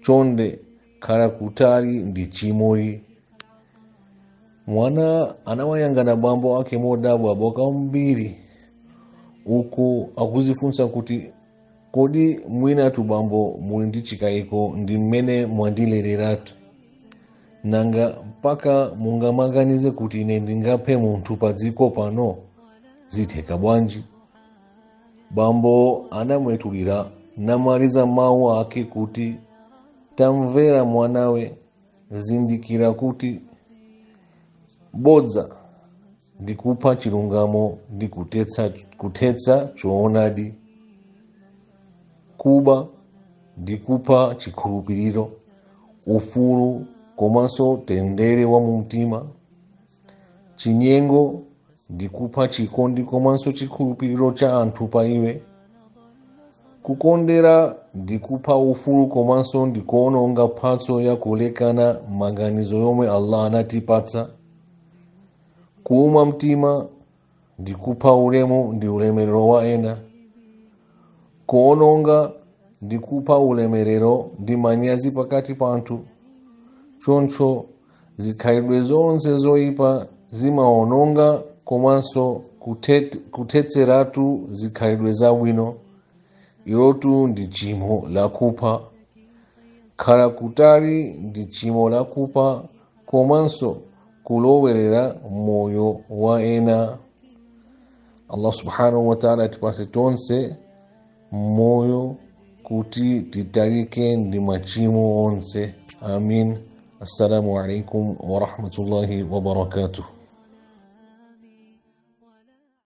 chonde khala kutali ndi chimoli mwana anawayangana bambo ake modabwa kwambiri uku akuzifunsa kuti kodi mwinatu bambo muli ndi chikayiko ndi mmene mwandilereratu nanga mpaka mungamaganize kuti ine ndingaphe munthu pa dziko pano zitheka bwanji bambo anamwetulira namaliza mawu ake kuti tamvera mwanawe zindikira kuti bodza ndi kupha chilungamo ndi kuthetsa choonadi kuba ndi kupha chikhulupiriro ufulu komanso mtendere wa mumtima chinyengo ndi kupha chikondi komanso chikhulupiriro cha anthu pa iwe kukondera ndi kupha ufulu komanso ndi kuononga mphatso ya kulekana maganizo yomwe allah anatipatsa kuuma mtima ndi kupha ulemu ndi ulemerero wa ena kuononga ndi kupha ulemerero ndi manyazi pakati pa anthu choncho zikhalidwe zonse zoyipa zimaononga komanso kuthetseratu zikhalidwe zabwino ilotu ndi chimo lakupha khala kutali ndi chimo lakupha komanso kulowerera moyo wa ena allah subhanahu wataala atipatse tonse moyo kuti titalike ndi machimo onse amin assalamu alaikum warahmatullahi wabarakatuh